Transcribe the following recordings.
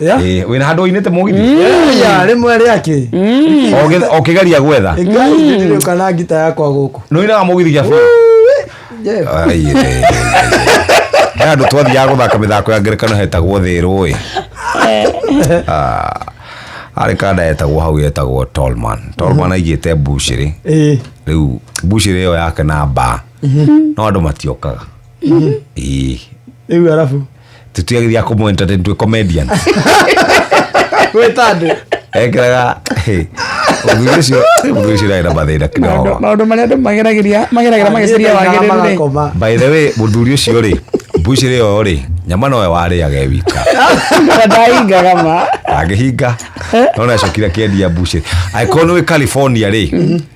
Yeah. Eh, wĩna handũ ũinĩte mũgithi Yeah, rĩmwe rĩake Ũgĩ- ũkĩgeria gwetha ndirĩũka na ngita yakwa gũkũ nũinaga mũgithi gĩa biũ Jeff. Ai, eh, eh, he andå twathiaga gå thaka mä thako ya ngerekano hetagwo thä rå ä arä kanda etagwo hau etagwo tolman tolman aigä te mbucä rä Eh, rä u mbucä rä ä yo yake na mbaa no andå matiokaga Ii. rĩu arabu tutiagithia kumu entertain twi comedian gwĩtandũ ekiraga muthuri ucio muthuri ucio ndari na mathina kidogo maũndũ marĩa andũ mageragĩria mageragĩra magĩciria wagĩrĩru rĩ Magakoma. by the way muthuri ucio rĩ mbucirĩ ĩyo rĩ nyama nowe warĩaga e wika ndaingaga ma agĩhinga nona acokire akĩendia mbucĩ angĩkorwo nĩ wĩ california rĩ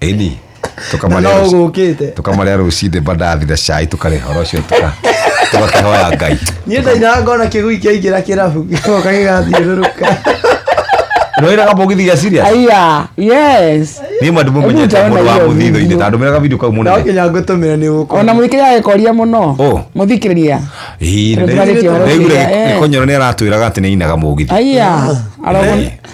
ĩni na no ũgũkĩte tũkamarĩa rũcinĩ mbandathira cai tũkarĩa horo ũcio tũka- tũgakĩhoya ngai niĩ ndainaga ngona kĩgui kĩaingĩra kĩrabu gĩgoka gĩgathiũrũrũka nĩwĩraga mũgithi gĩa siria aya yes niĩ mandũ mũmenyete Hebu mũndũ wa utaona hiyo mũthitho-inĩ video. tandũ mĩraga video kau no mũnene nginya ngũtũmĩra nĩ ũgũkora ona mũthikĩria agĩkoria mũno Ũ. mũthikĩrĩria Ĩĩ, Tondũ nĩ- twarĩtie ũhoro nĩaiguire ũcio, eh. gĩkonyoro nĩ aratwĩraga atĩ nĩ ainaga mũgithi aya arogwo Hey.